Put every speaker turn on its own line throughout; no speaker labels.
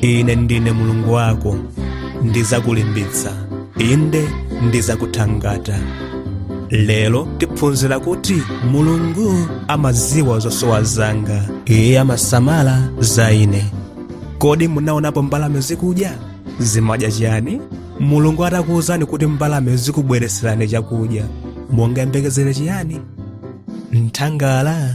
ine ndine mulungu wako ndizakulimbitsa inde ndizakuthangata lero tiphunzira kuti mulungu amaziwa zosowa zanga iye amasamala za ine kodi munaonapo mbalame zikudya zimadya chiyani mulungu atakuwuzani kuti mbalame zikubweretserani chakudya mungayembekezere chiyani nthanga la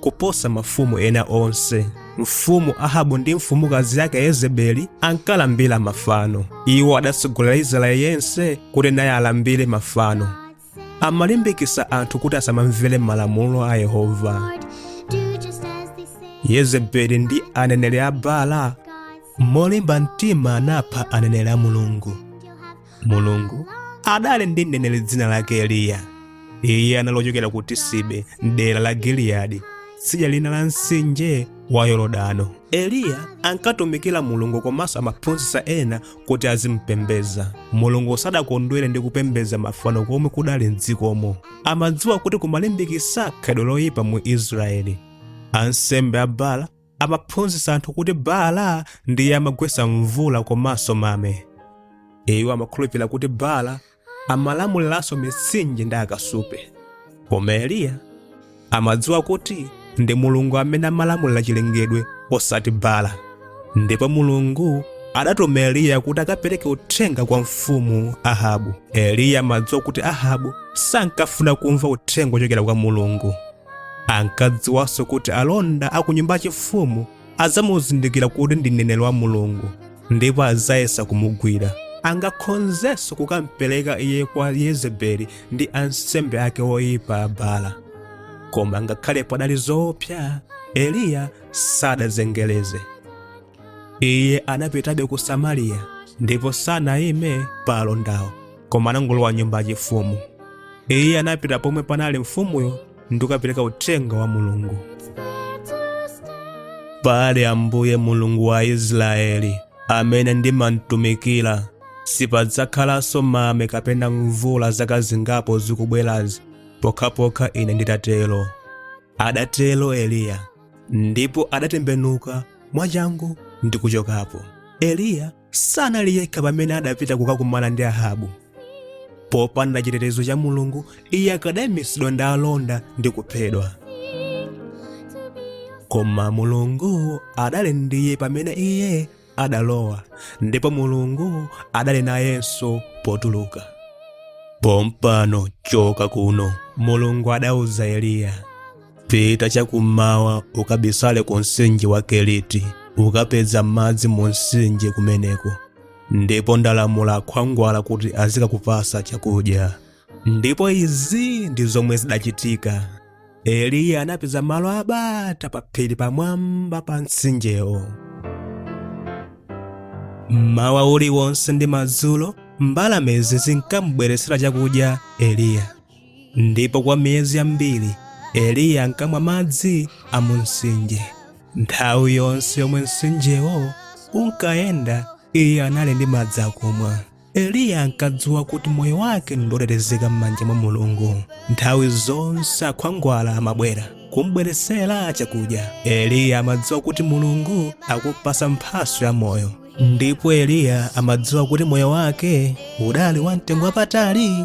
kuposa mafumu ena onse. Mfumu Ahabu ndi mfumukazi yake Yezebeli ankalambira mafano. Iwo adatsogolera Israeli yense kuti naye alambire mafano. Amalimbikitsa anthu kuti asamamvere malamulo a Yehova. Yezebeli ndi aneneri a Baala molimba mtima anapha aneneri a Mulungu. mulungu adali ndi mneneri dzina lake eliya iye anali ochokera ku tisibe mdera la giliyadi tsidya lina la mtsinje wa yorodano eliya ankatumikira mulungu komanso amaphunzitsa ena kuti azimpembeza mulungu sadakondwere ndi kupembeza mafano komwe kudali mdzikomo amadziwa kuti kumalimbikitsa khalidwe loyipa mu israeli ansembe a baala amaphunzitsa anthu kuti Baala ndiye amagwetsa mvula komanso mame. Iwo amakhulupirira kuti Baala amalamuliranso mitsinje ndi akasupe. Koma Eliya amadziwa kuti ndi Mulungu amene amalamulira chilengedwe osati Baala. Ndipo Mulungu adatuma Eliya kuti akapereke uthenga kwa mfumu Ahabu. Eliya amadziwa kuti Ahabu sankafuna kumva uthenga wochokera kwa Mulungu. ankadziwanso kuti alonda a ku nyumba yachifumu adzamuzindikira kuti ndi mneneri wa mulungu ndipo adzayesa kumugwira angakhonzenso kukampereka iye kwa yezebeli ndi ansembe ake oyipa a baala koma ngakhale padali zoopsa eliya sadazengereze iye anapitabe ku samariya ndipo sanayime pa alondawo koma anangolowa nyumba yachifumu iye anapita pomwe panali mfumuyo ndi kukapereka uthenga wa mulungu pali ambuye mulungu wa israeli amene ndimamtumikira sipadzakhalanso mame kapena mvula zaka zingapo zikubwerazi pokhapokha ine nditatero adatero eliya ndipo adatembenuka mwachangu ndi kuchokapo eliya sanali yekha pamene adapita kukakumana ndi ahabu popanda chitetezo cha mulungu iye akadaimitsidwa ndi alonda ndi kuphedwa koma mulungu adali ndi iye pamene iye adalowa ndipo mulungu adali nayenso potuluka pompano choka kuno mulungu adauza eliya pita chakummawa ukabisale ku mtsinje wa keriti ukapeza madzi mu mtsinje kumeneko ndipo ndalamula akhwangwala kuti azikakupatsa chakudya ndipo izi ndi zomwe zidachitika eliya anapeza malo abata pa phiri pamwamba pa mtsinjewo mmawa uliwonse ndi madzulo mbalamezi zinkamubweretsera chakudya eliya ndipo kwa miyezi yambiri eliya ankamwa madzi a mu mtsinje nthawi yonse yomwe mtsinjewo unkayenda iye anali ndi madzi akumwa Eliya ankadziwa kuti moyo wake ndi wotetezeka m'manja mwa Mulungu. Nthawi zonse akhwangwala amabwera kumbweretsera chakudya. Eliya amadziwa kuti Mulungu akumpatsa mphatso ya moyo. Ndipo Eliya amadziwa kuti moyo wake udali wamtengo wapatali.